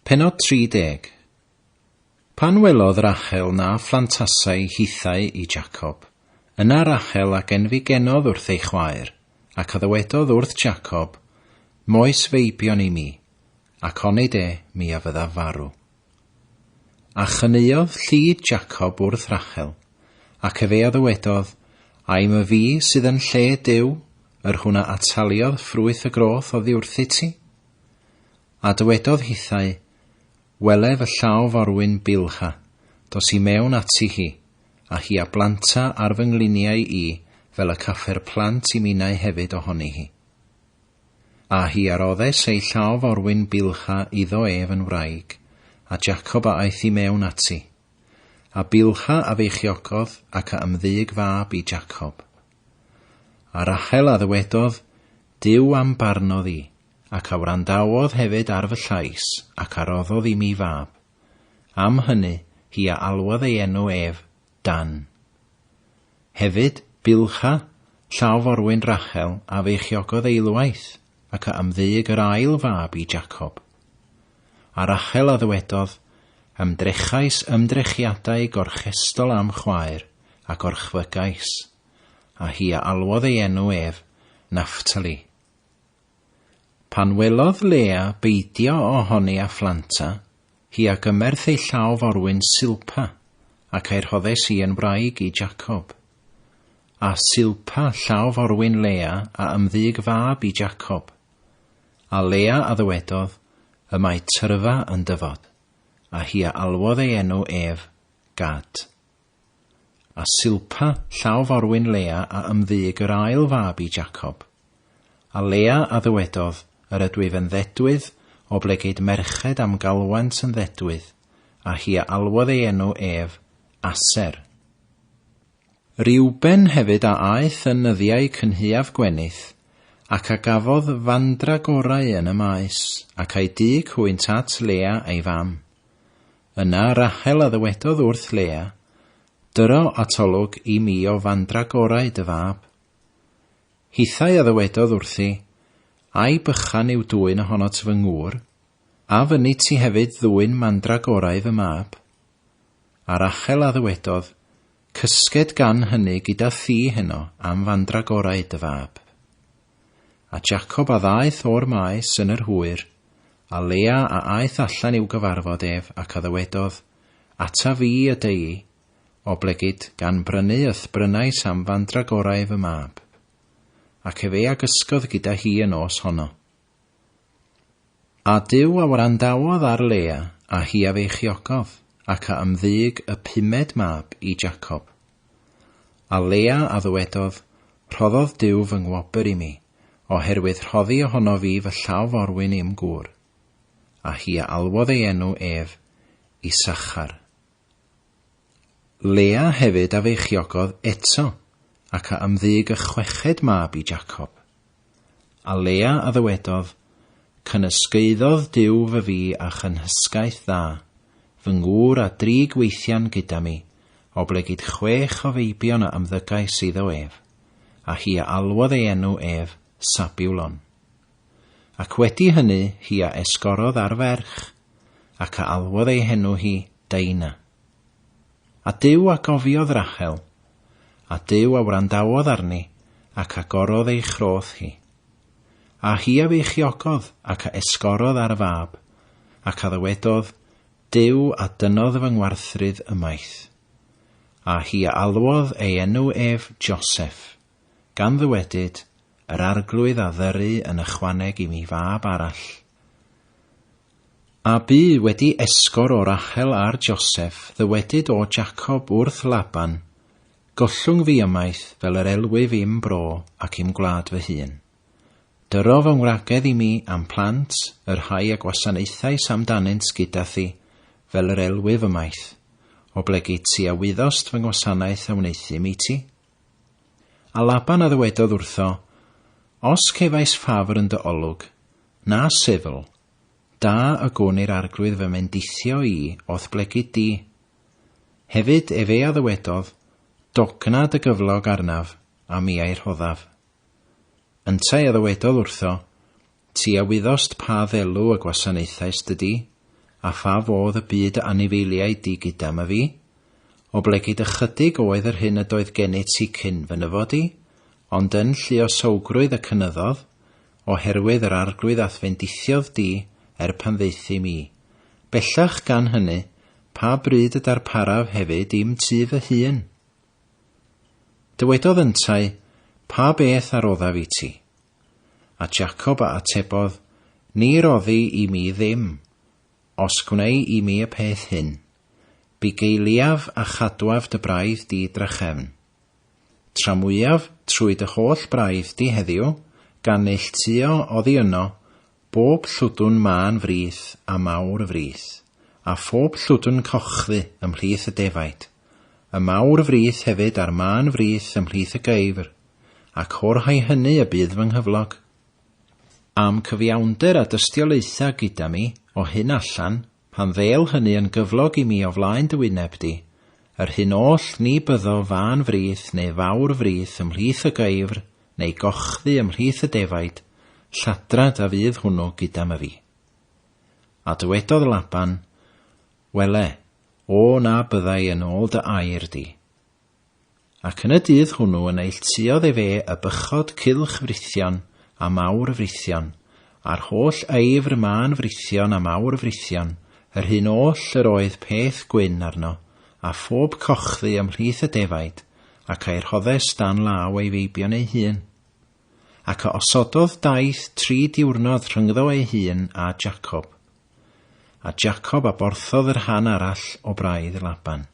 Pennod 30 Pan welodd Rachel na phlantasai hithau i Jacob, yna Rachel a genfigenodd wrth ei chwaer, ac a ddywedodd wrth Jacob, Moes feibion i mi, ac onid e mi a fyddaf farw. A chaneuodd llid Jacob wrth Rachel, ac ef ei a ddywedodd, Aem y fi sydd yn lle Duw, yr hwn a ataliodd ffrwyth y groth oddi wrthit ti? A dywedodd hithau, Wele fy llaw forwyn Bilha, dos i mewn ati hi, a hi a blanta ar fy ngliniau i, fel y caffer plant i minnau hefyd ohoni hi. A hi a roddes ei llaw forwyn bylcha iddo ef yn wraig, a Jacob a aeth i mewn ati. A bylcha a feichiogodd ac a ymddyg fab i Jacob. A Rachel a ddywedodd, Duw a'm barnodd i, ac a wrandawodd hefyd ar fy llais, ac a roddodd i mi fab. Am hynny, hi a alwodd ei enw ef, Dan. Hefyd, bylcha llaw forwyn Rachel a feichiogodd eilwaith, ac a ymddug yr ail fab i Jacob. A Rachel a ddywedodd, Ymdrechais ymdrechiadau gorchestol a'm chwaer, a gorchfygais, a hi a alwodd ei enw ef, Naphtali. Pan welodd Lea beidio ohoni a phlanta, Hi a gymerth ei llaw forwyn Silpa, ac a'i rhoddes i yn wraig i Jacob. A Silpa, llaw forwyn Lea, a ymddug fab i Jacob. A Lea a ddywedodd, Y mae tyrfa yn dyfod. A hi a alwodd ei enw ef, Gad. A Silpa, llaw forwyn Lea a ymddug yr ail fab i Jacob. A Lea a ddywedodd, Yr ydwyf yn ddedwydd, oblegid merched a'm galwent yn ddedwydd, a hi a alwodd ei enw ef, Aser. Reuben hefyd a aeth yn nyddiau cynhaeaf Gwenith, ac a gafodd fandragorau yn y maes, ac a'i dug hwynt at Lea ei fam. Yna Rachel a ddywedodd wrth Lea, Dyro atolwg i mi o fandragorau dy fab. Hithau a ddywedodd wrthi, Ai bychan yw dwyn ohonot fy ngŵr? A fynnit ti hefyd ddwyn mandragorau fy mab? A Rachel a ddywedodd, Cysged gan hynny gyda thi heno am fandragorau dy fab. A Jacob a ddaeth o'r maes yn yr hwyr, a Lea a aeth allan i'w gyfarfod ef, ac a ddywedodd, Ata fi y deu'i, oblegid, gan brynu y'th brynais am fandragorau fy mab. Ac efe a gysgodd gyda hi y nos honno. A Duw a wrandawodd ar Lea, a hi a feichiogodd, ac a ymddug y pumed mab i Jacob. A Lea a ddywedodd, Rhoddodd Duw fy ngwobr i mi, oherwydd rhoddi ohono fi fy llaw forwyn i'm gŵr. A hi a alwodd ei enw ef, Isachar. Lea hefyd a feichiogodd eto ac a ymddug y chweched mab i Jacob. A Lea a ddywedodd, Cynysgaeddodd Duw fy fi a chynhysgaeth dda, fy ngŵr a dri gweithian gyda mi, oblegid chwech o feibion a ymddygais iddo ef. A hi a alwodd ei enw ef Sabulon. Ac wedi hynny hi a esgorodd ar ferch, ac a alwodd ei henw hi Daina. A Duw a gofiodd Rachel, a Duw a wrandawodd arni ac a gorodd ei chroth hi. A hi a feichiogodd ac a esgorodd ar y fab, ac a ddywedodd, Duw a dynodd fy ngwarthrydd ymaith. A hi a alwodd ei enw ef Joseph. Gan ddywedyd, Yr Arglwydd a ddyru yn ychwaneg i mi fab arall. A bu wedi esgor o Rachel ar Joseph, ddywedyd o Jacob wrth Laban, Gollwng fi ymaith fel yr elwyf i'm bro ac i'm gwlad fy hun. Dyro fy ngwragedd i mi a'm plant, y rhai a gwasanaethais amdanynt gyda thi, fel yr elwyf ymaith. Oblegid ti a wyddost fy ngwasanaeth a wneuthum i ti. A Laban a ddywedodd wrtho, Os cefais ffafr yn dy olwg, na sifl, da y gwn i'r arglwydd fy mendithio i o'th blegid di. Hefyd ef ea ddywedodd, Dogna dy gyflog arnaf, a mi a'i rhoddaf. Yntau a ddywedodd wrtho, Ti a wyddost pa ddelw y gwasanaethaist y di, a pha fodd y bu dy anifeiliaid di gydam a fi? Oblegid ychydig oedd yr hyn ydoedd gennyt ti cyn fy nyfod i, ond yn lluosowgrwydd y cynyddodd, o herwydd yr arglwydd a'th fendithiodd di er pan ddeuthum i. Bellach gan hyny, pa bryd y darparaf hefyd i'm tu fy hun? Dywedodd yntau, Pa beth a roddaf i ti? A Jacob a atebodd, Ni roddi i mi ddim, os gwnei i mi y peth hyn, bugeiliaf a chadwaf dy braidd di drachefn. Tramwyaf trwy dy holl braidd di heddiw, gan neilltuo oddi yno, Bob llwdwn mân frith a mawr y frith, a phob llwdwn cochdy ymhlith y defaid, y mawr y frith hefyd a'r mân frith ymhlith y geifr, ac o'r rhai hynny y bydd fy nghyflog. A'm cyfiawnder a dystiolaetha gyda mi o hyn allan Pan ddew hynny yn gyflog i mi o flaen dy wyneb di, yr hyn oll ni byddo fân frith neu fawr frith ymhlith y geufr, neu gochdy ymhlith y defaid, lladrad a fydd hwnnw gyda my fi. A dywedodd Laban, Wele, o na byddai yn ôl dy air di. Ac yn y dydd hwnw y neilltuodd efe y bychod cylch frithion, a mawr y frithion, a'r holl aefr mân frithion a mawr y frithion, yr hyn oll yr oedd peth gwyn arno, a phob cochddu ymhlith y defaid, ac a'i rhoddes dan law ei feibion ei hun. Ac a osododd daith tri diwrnod rhyngddo ei hun a Jacob. A Jacob a borthodd yr rhan arall o braidd Laban.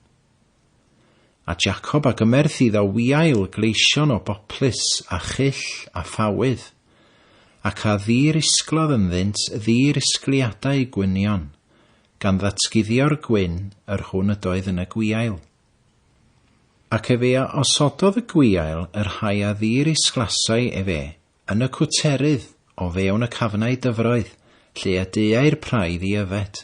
A Jacob a gymerth iddo wiail gleision o boplys, a chyll, a phawydd. Ac a ddi-risglodd ynddynt ddi-risgliadau gwynion, gan ddatguddio'r gwyn yr hwn ydoedd yn y gwiail. Ac efe a osododd y gwiail y rhai a ddi-risglasai efe yn y cwterydd o fewn y cafnau dyfroedd, lle y deuai'r praidd i yfed,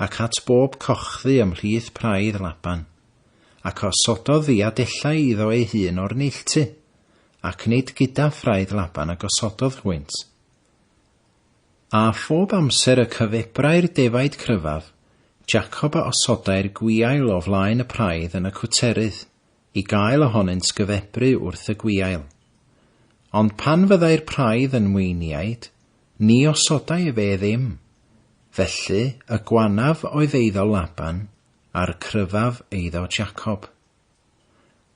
ac at bob cochdy ymhlith praidd Laban, ac osododd ddiadellau iddo ei hun o'r neilltu, ac nid gyda phraidd Laban a gosododd hwynt. A phob amser y cyfebrai'r defaid cryfaf, Jacob a osodai'r gwiail o flaen y praidd yn y cwterydd, i gael ohonynt gyfebru wrth y gwiail. Ond pan fyddai'r praidd yn mweiniaid, Ni osodai efe ddim. Felly y gwanaf oedd eiddo Laban, a'r cryfaf eiddo Jacob.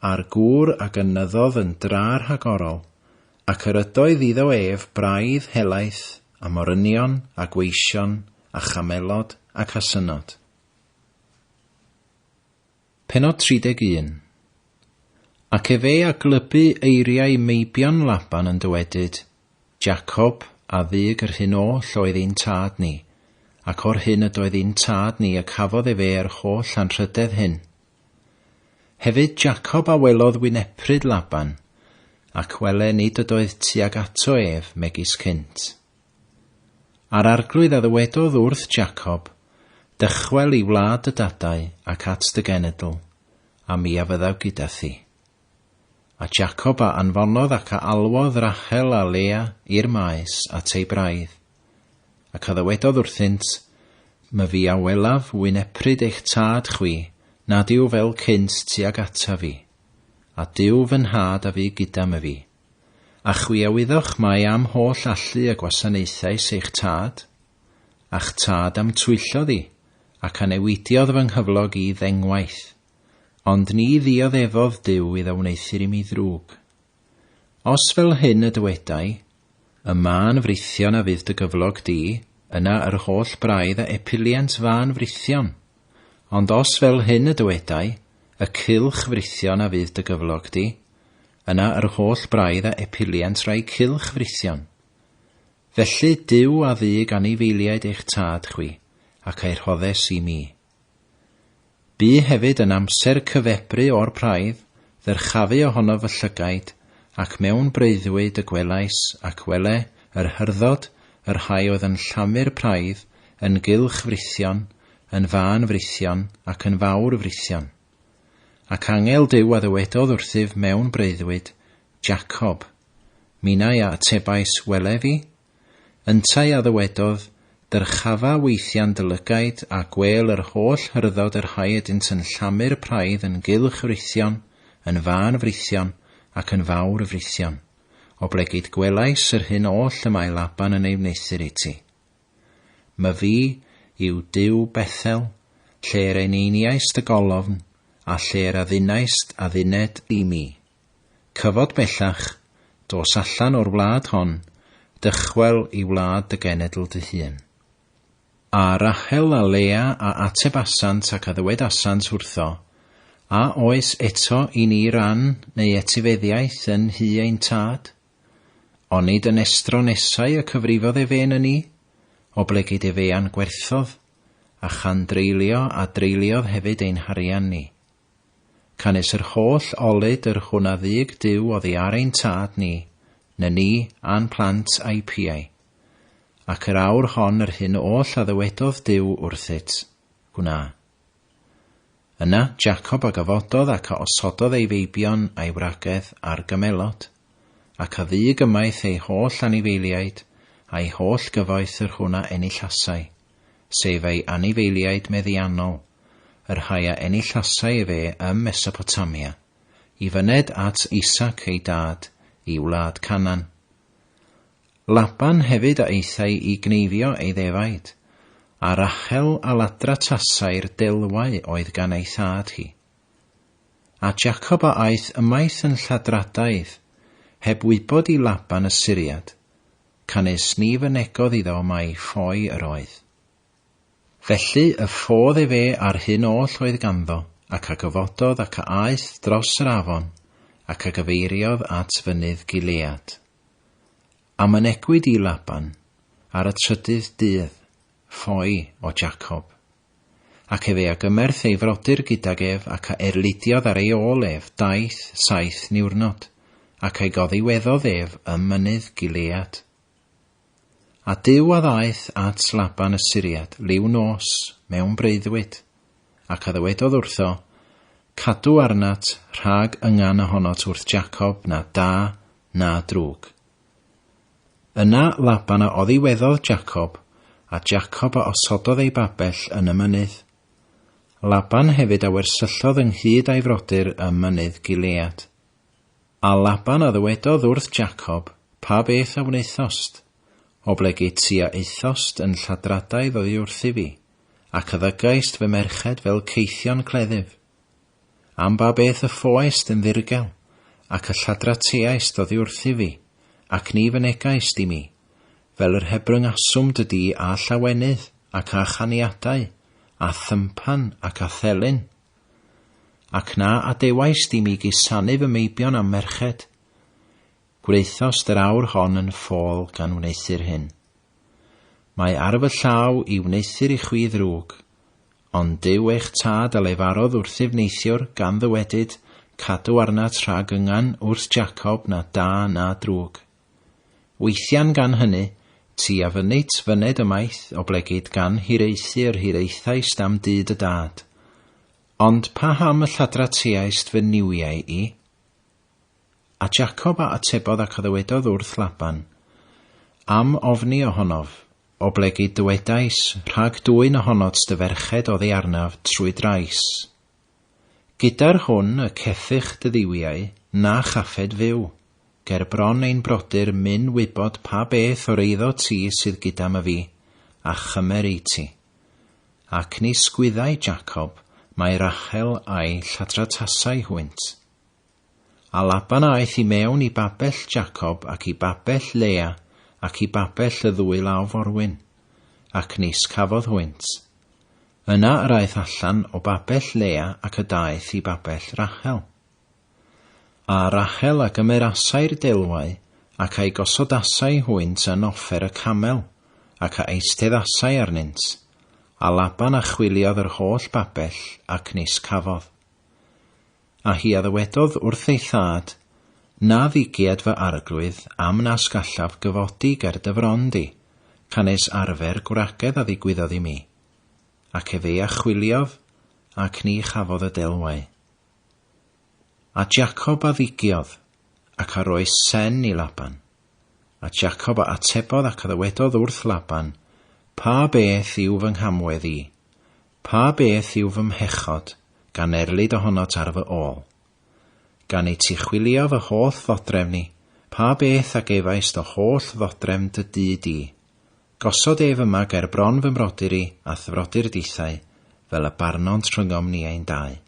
A'r gŵr a gynyddodd yn dra rhagorol, ac yr ydoedd iddo ef braidd helaeth, a morynion, a gweision, a chamelod, ac asynod. Pennod 31. Ac efe a glybu eiriau meibion Laban yn dywedyd, Jacob, a ddug yr hyn oll oedd ein tad ni, ac o'r hyn ydoedd i'n tad ni y cafodd efe yr holl anrhydedd hyn. Hefyd Jacob a welodd wynepryd Laban, ac wele nid ydoedd tuag ato ef megis cynt. A'r Arglwydd a ddywedodd wrth Jacob, Dychwel i wlad dy dadau ac at dy genedl, a mi a fyddaf gyda thi. A Jacob a anfonodd ac a alwodd Rachel a Lea i'r maes at ei braidd, ac a ddywedodd wrthynt, My fi a welaf wynepryd eich tad chwi nad yw fel cynt tuag ata fi, a Duw fy nhad a fu gyda my fi. A chwi a wyddoch mai a'm holl allu a gwasanaethais eich tad? A'ch tad a'm twyllodd i, ac a newidiodd fy nghyflog i ddengwaith, ond ni ddioddefodd Duw iddo wneuthur i mi ddrwg. Os fel hyn y dywedai, Y mân frithion a fydd dy gyflog di, yna yr holl braidd a epiliant fân frithion. Ond os fel hyn y dywedai, y cylch frithion a fydd dy gyflog di, yna yr holl braidd a epiliant rai cylch frithion. Felly Duw a ddug anifeiliaid eich tad chwi, ac a'i rhoddes i mi. Bu hefyd yn amser cyfebru o'r praidd, ddyrchafu ohono fy llygaid, ac mewn breuddwyd y gwelais, ac wele, yr hyrddod, y rhai oedd yn llamu'r praidd, yn gylch frithion, yn fân frysion ac yn fawr frysion. Ac angel Duw a ddywedodd wrthyf mewn breuddwyd, Jacob. Minau a atebais, Wele fi. Yntau a ddywedodd, Dyrchafa weithian dy lygaid a gwêl yr holl hyrddod yr hau ydynt yn llamu'r praidd yn gylch frysion, yn fân frysion, ac yn fawr frysion. Oblegid gwelais yr hyn oll y mae Laban yn ei wneuthur iti. Myfi yw Duw Bethel, lle'r eneiniaist y golofn, a lle'r addunaist adduned i mi. Cyfod bellach, dos allan o'r wlad hon, dychwel i wlad dy genedl dy hun. A Rachel a Lea a atebasant ac a ddywedasant wrtho, A oes eto i ni ran neu etifeddiaeth yn nhŷ ein tad? Onid yn estro nesau y cyfrifodd ef ên yn i? Oblegid ef ean gwerthodd, a chan dreulio a dreuliodd hefyd ein harian ni. Canys yr holl olud yr hwn a ddug Duw oddi ar ein tad ni, na ni, a'n plant a'i piau. Ac yr awr hon yr hyn oll a ddywedodd Duw wrthyt, gwna. Yna Jacob a gyfododd ac a osododd ei feibion a'i wragedd ar gymelod, ac a ddug ymaith ei holl anifeiliaid, a'i holl gyfoeth yr hwn a enillasai, sef ei anifeiliaid meddiannol, yr rhai a enillasai efe ym Mesopotamia, i fyned at Isaac ei dad i wlad Canaan. Laban hefyd a aethai i gneifio ei ddefaid, a Rachel a ladra tasai'r delwau oedd gan ei thad hi. A Jacob a aeth ymaith yn lladradaidd, heb wybod i Laban y Syriad, canys ni fynegodd iddo mai ffoi yr oedd. Felly y ffodd efe a'r hyn oll oedd ganddo, ac a gyfododd ac a aeth dros yr afon, ac a gyfeiriodd at fynydd Gilead. A mynegwyd i Laban ar y trydydd dydd, ffoi o Jacob. Ac efe a gymerth ei frodyr gydag ef ac a erlidiodd ar ei ôl ef daeth saith niwrnod, ac a'i goddiweddodd ef ym mynydd Gilead. A Duw a ddaeth at Laban y Syriad liw nos mewn breuddwyd, ac a ddywedodd wrtho, Cadw arnat rhag yngan ohonot wrth Jacob na da na drwg. Yna Laban a oddiweddodd Jacob, a Jacob a osododd ei babell yn y mynydd. Laban hefyd a wersyllodd ynghyd a'i frodyr ym mynydd Gilead. A Laban a ddywedodd wrth Jacob, Pa beth a wnaethost? Oblegid ti a aethost yn lladradaidd oddi wrthyf i, ac a ddygaist fy merched fel caethion cleddyf? Am ba beth y ffoaist yn ddirgel, ac y lladrateaist oddi wrthyf i, ac ni fynegaist i mi, fel yr hebryngaswm dy di â llawenydd, ac â chaniadau, â thympan, ac â thelyn? Ac na adewaist i mi gusanu fy meibion a'm merched. Gwnaethost yr awr hon yn ffôl gan wneuthur hyn. Mae ar fy llaw i wneuthur i chwi ddrwg, ond Duw eich Tad a lefarodd wrthyf neithiwr gan ddywedyd, Cadw arnat rhag yngan wrth Jacob na da na drwg. Weithian gan hyny, ti a fynit fyned ymaith oblegid gan hiraethu yr hiraethaist am dyd y dad. Ond paham y lladrateaist fy niwiau i? A Jacob a atebodd ac a ddywedodd wrth Laban, Am ofni ohonof, oblegid dywedais, rhag dwyn ohonot dy ferched oddi arnaf trwy drais. Gyda'r hwn y ceffych dy ddiwiau, na chaffed fyw. Ger bron ein brodyr myn wybod pa beth o'r eiddo ti sydd gyda my fi, a chymer ei ti. Ac ni sgwyddai Jacob mai Rachel a'i lladratasai hwynt. A Laban aeth i mewn i babell Jacob ac i babell Lea ac i babell y ddwy law forwyn, ac nis cafodd hwynt. Yna yr aeth allan o babell Lea ac y daeth i babell Rachel. A Rachel a gymerasai'r delwau, ac a'i gosodasai hwynt yn offer y camel, ac a eisteddasai arnynt. A Laban a chwiliodd yr holl babell, ac nis cafodd. A hi a ddywedodd wrth ei thad, Na ddigiad fy arglwydd am nas gallaf gyfodi ger dy fron di, canes arfer gwragedd a ddigwyddodd i mi. Ac efe a chwiliodd, ac ni chafodd y delwau. A Jacob a ddigiodd, ac a roes sen i Laban. A Jacob a atebodd ac a ddywedodd wrth Laban, Pa beth yw fy nghamwedd i? Pa beth yw fy mhechod, gan erlid ohonot ar fy ol? Gan i ti chwilio fy holl ddodrefn i, pa beth a gefaist o holl ddodrefn dy dŷ di? Gosod ef yma ger bron fy mrodyr i a'th frodyr dithau, fel y barnont rhyngom ni ein dau.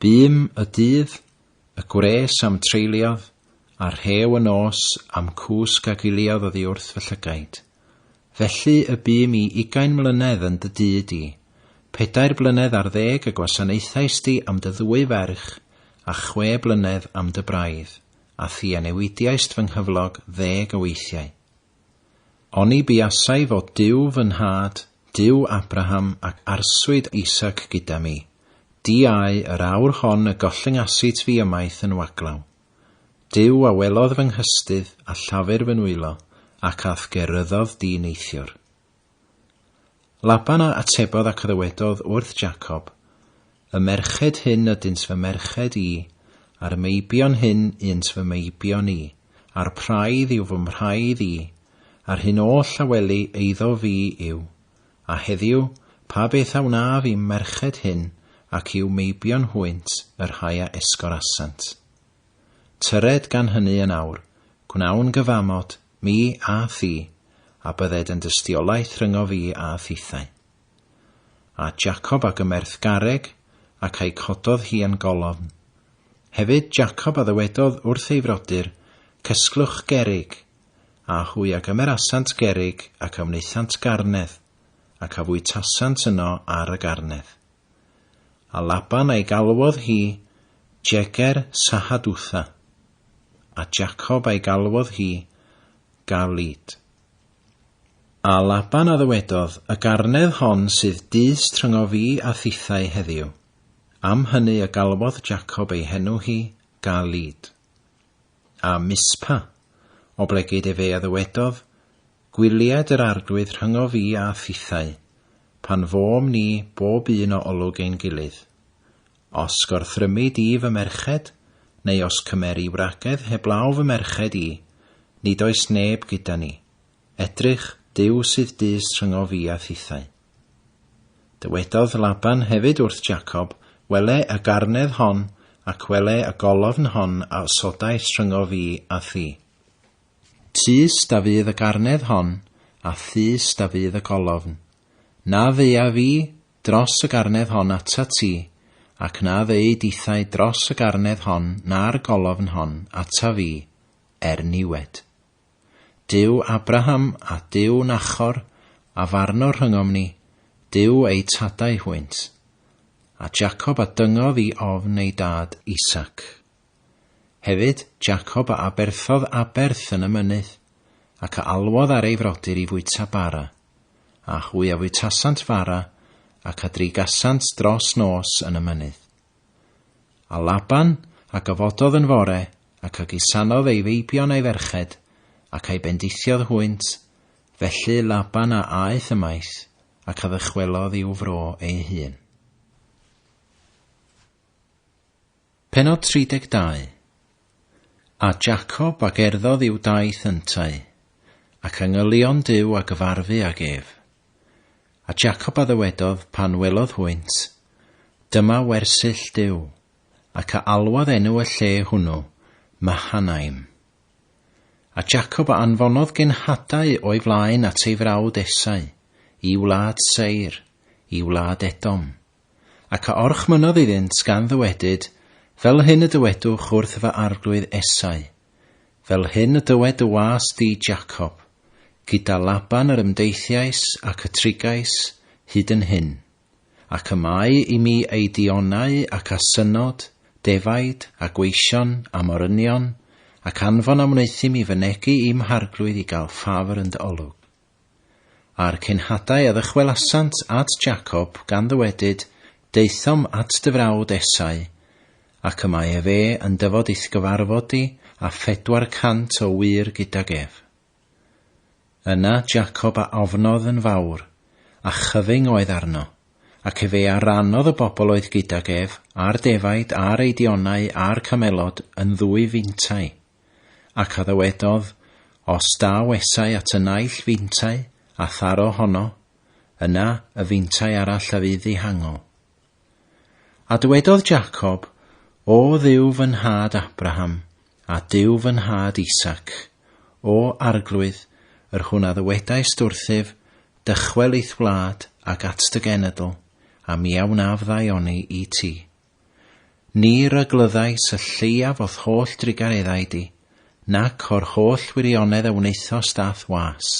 Bum y dydd, y gwres a'm treuliodd, a rhew y nos a'm cwsg a giliodd oddi wrth fy llygaid. Felly y bum i ugain mlynedd yn dy dŷ di. Pedair blynedd ar ddeg y gwasanaethaist di am dy ddwy ferch, a chwe blynedd am dy braidd, a thi a newidiaist fy nghyflog ddeg o weithiau. Oni buasai fod Duw fy nhad, Duw Abraham ac arswyd Isaac gyda mi, diau yr awr hon y gollyngasit fi ymaith yn waglaw. Duw a welodd fy nghystudd a llafur fy nwylo, ac a'th geryddodd di neithiwr. Laban a atebodd ac ddywedodd wrth Jacob, Y merched hyn ydynt fy merched i, a'r meibion hyn ynt fy meibion i, a'r praidd yw fy mhraidd i, a'r hyn oll a weli eiddo fi yw. A heddiw, pa beth a wnaf i'm merched hyn ac i'w meibion hwynt y rhai a esgorasant? Tyred gan hynny yn awr, gwnawn gyfamod Mi a thi, a bydded yn dystiolaeth rhyngo fi a thithau. A Jacob a gymerth garreg, ac a'i cododd hi yn golofn. Hefyd Jacob a ddywedodd wrth ei frodyr, Cysglwch gerrig, a hwy a gymerasant gerrig ac a wnaethant garnedd, ac a fwytasant yno ar y garnedd. A Laban a'i galwodd hi Jeger Sahadutha, a Jacob a'i galwodd hi Galeed. A Laban a ddywedodd, Y garnedd hon sydd dys tryngo fi a thithau heddiw. Am hynny y galwodd Jacob ei henw hi Galeed. A Mispa, oblegid efe a ddywedodd, Gwylied yr Arglwydd rhyngo fi a thithau, pan fôm ni bob un o olwg ein gilydd. Os gorthrymu di fy merched, neu os cymeri wragedd heblaw fy merched i, nid oes neb gyda ni, edrych, Duw sydd dys rhyngo fi a thithau. Dywedodd Laban hefyd wrth Jacob, Wele y garnedd hon, ac wele y golofn hon a osodais rhyngo fi a thi. Tyst a fydd y garnedd hon, a thyst a fydd y golofn. Na ddeuaf fi dros y garnedd hon atat ti, ac na ddeu dithau dros y garnedd hon na'r golofn hon ata fi, er niwed. Duw Abraham a Duw Nachor, a farno rhyngom ni, Duw eu tadau hwynt. A Jacob a dyngodd i ofn ei dad Isaac. Hefyd, Jacob a aberthodd aberth yn y mynydd, ac a alwodd ar ei frodyr i fwyta bara, a hwy a fwytasant fara, ac a drigasant dros nos yn y mynydd. A Laban a gyfododd yn fore, ac a gusanodd ei feibion a'i ferched, ac a'i bendithiodd hwynt, felly Laban a aeth ymaith, ac a ddychwelodd i'w fro ei hun. Pennod 32 A Jacob a gerddodd i'w daith yntau, ac a ngylion Duw a gyfarfu ag ef. A Jacob a ddywedodd pan welodd hwynt, Dyma wersyll Duw, ac a alwodd enw y lle hwnnw Mahanaim. A Jacob a anfonodd genhadau o'i flaen at ei frawd Esau, i wlad Seir, i wlad Edom. Ac a orchmynnodd iddynt gan ddywedyd, Fel hyn y dywedwch wrth fy arglwydd Esau, Fel hyn y dywed dy was di, Jacob, Gyda Laban yr ymdeithiais ac y trigais hyd yn hyn, ac y mae i mi ei dionau ac a synod, defaid, a gweision, a morynion, ac anfon a wneuthum i fynegi i'm harglwydd i gael ffafr yn dy olwg. A'r cenhadau a ddychwelasant at Jacob, gan ddywedyd, Daethom at dy frawd Esau, ac y mae efe yn dyfod i'th gyfarfod di, a phedwar cant o wŷr gydag ef. Yna Jacob a ofnodd yn fawr, a chyfyng oedd arno, ac efe a rannodd y bobl oedd gydag ef, a'r defaid, a'r eidionau, a'r camelod, yn ddwy fintai. Ac a ddywedodd, Os da wesai at y naill fintai, a tharo honno, yna y fintai arall a fydd ddihangol. A dywedodd Jacob, O Dduw fy nhad Abraham, a Duw fy nhad Isaac, O Arglwydd, yr hwn a ddywedaist wrthyf, Dychwel i'th wlad, ac at dy genedl, a mi a wnaf ddaioni i ti. Ni ryglyddais y lleiaf o'th holl drugareddau di, nac o'r holl wirionedd a wnaethost a'th was.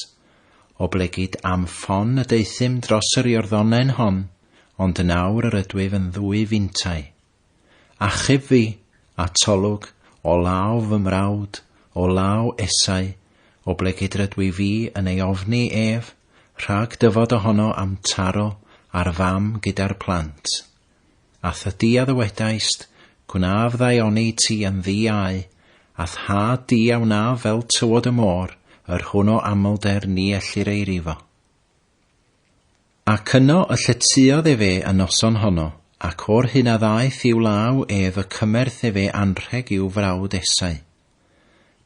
Oblegid am ffon y deuthum dros yr Iorddonen hon, ond yn awr yr ydwyf yn ddwy fintai. Achub fi, atolwg, o law fy mrawd, o law Esau, oblegid rydwi fi yn ei ofni ef, rhag dyfod ohono am taro ar fam gyda'r plant. A thydi a ddywedaist, Gwnaf ddaioni ti yn ddi au, a'th nhad di a wnaf fel tywod y môr, yr hwn o amlder ni ellir ei rifo. Ac yno y lletyodd efe y noson honno, ac o'r hyn a ddaeth i'w law ef y cymerth efe anrheg i'w frawd Esau.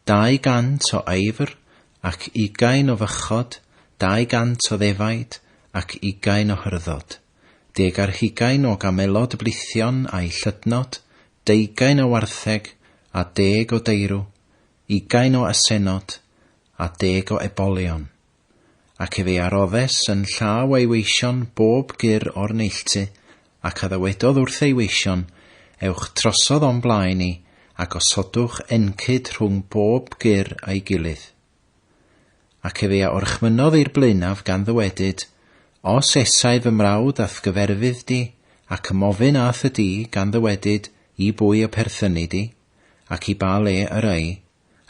Dau gant o aefr, ac ugain o fychod, dau gant o ddefaid, ac ugain o hyrddod. deg ar hugain o gamelod blithion a'u llydnod, deugain o wartheg, a deg o deirw, ugain o asennod, a deg o ebolion. Ac efe a roddes yn llaw ei weision bob gur o'r neilltu, ac a ddywedodd wrth ei weision, Ewch trosodd o'm blaen i, a gosodwch encyd rhwng bob gur a'i gilydd. Ac efe a orchmynnodd i'r blaenaf gan ddywedyd, Os esai fy mrawd a'th gyferfydd di, ac ym ofyn a'th y di, gan ddywedyd, I bwy y perthynu di? ac i ba le yr ŷi?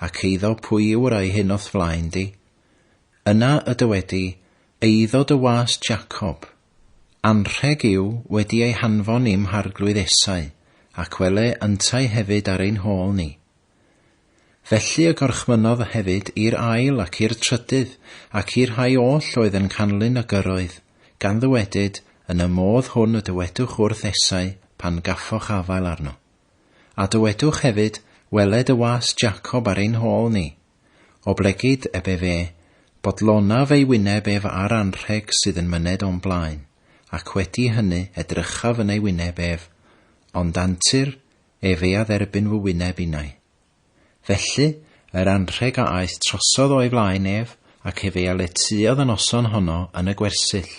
ac eiddo pwy yw yr ŷi hyn o'th flaen di? Yna y dywedi, Eiddo dy was Jacob. Anrheg yw wedi ei hanfon i'm harglwydd esau, ac wele yntau hefyd ar ein hôl ni. Felly y gorchmynnodd hefyd i'r ail ac i'r trydydd, ac i'r rhai oll oedd yn canlyn y gyrroedd, gan ddywedyd, Yn y modd hwn y dywedwch wrth Esau, pan gaffoch afael arno. A dywedwch hefyd, Weled y was Jacob ar ein hôl ni. Oblegid eb ef e, bodlonaf ei wyneb ef â'r anrheg sydd yn myned o'm blaen, ac wedi hynny edrychaf yn ei wyneb ef, ond antur, ef ei adderbyn fy wyneb innau. Felly, yr anrheg a aeth trosodd o'i flaen ef, ac ef ei aletuodd y noson honno yn y gwersyll.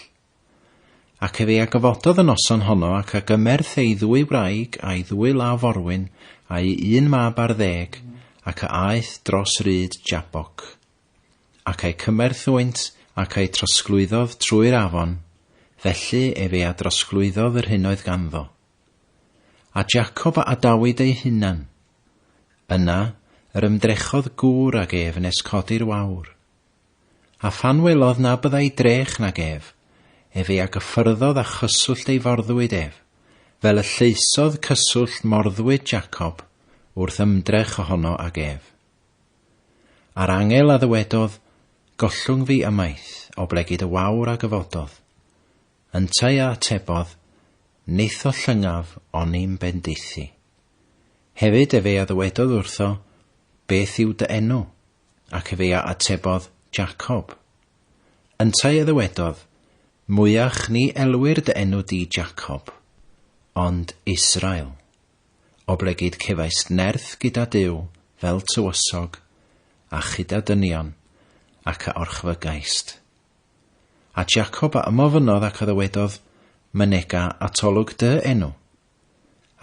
Ac ef ei agyfododd y noson honno ac a gymerth ei ddwy wraig a'i ddwy law forwyn a'i un mab ar ddeg, ac a aeth dros ryd Jaboc. Ac a'i cymerth hwynt, ac a'i trosglwyddodd trwy'r afon, felly ef ei adrosglwyddodd yr hyn oedd ganddo. A Jacob a adawyd ei hunan. Yna yr ymdrechodd gŵr ag ef nes codi'r wawr. A phan welodd na byddai drech nag ef, ef ei agyffyrddodd a chyswllt ei forddwyd ef, fel y lleusodd cyswllt morddwyd Jacob wrth ymdrech ohono ag ef. A'r angel a ddywedodd, Gollwng fi ymaith, oblegid y wawr a gyfododd. Yntau a atebodd, Neitho llyngaf oni'm bendithu. Hefyd efe a ddywedodd wrtho, Beth yw dy enw? Ac efe a atebodd, Jacob. Yntau a ddywedodd, Mwyach ni elwir dy enw di Jacob, ond Israel. Oblegid cefaist nerth gyda Duw fel tywysog, a chyda dynion, ac a orchfygaist. A Jacob a ymofynnodd ac a ddywedodd, Mynega atolwg dy enw.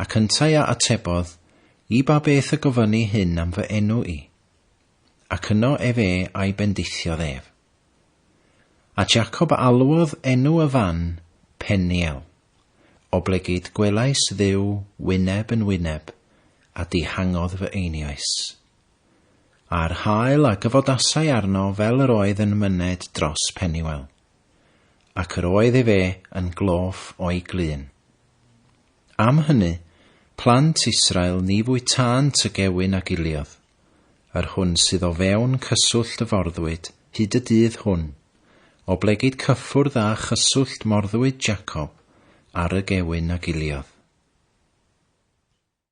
Ac yntau a atebodd, I ba beth y gofynni hyn am fy enw i? Ac yno ef e a'i bendithiodd ef. A Jacob a alwodd enw y fan Peniel, oblegid gwelais Dduw wyneb yn wyneb, a dihangodd fy einioes. a'r haul a gyfodasai arno fel yr oedd yn myned dros Peniwel, ac yr oedd efe yn gloff o'i glun. Am hynny, plant Israel ni fwytânt y gewyn a giliodd, yr hwn sydd o fewn cyswllt y forddwyd hyd y dydd hwn, oblegid cyffwrdd â chyswllt morddwyd Jacob ar y gewyn a giliodd.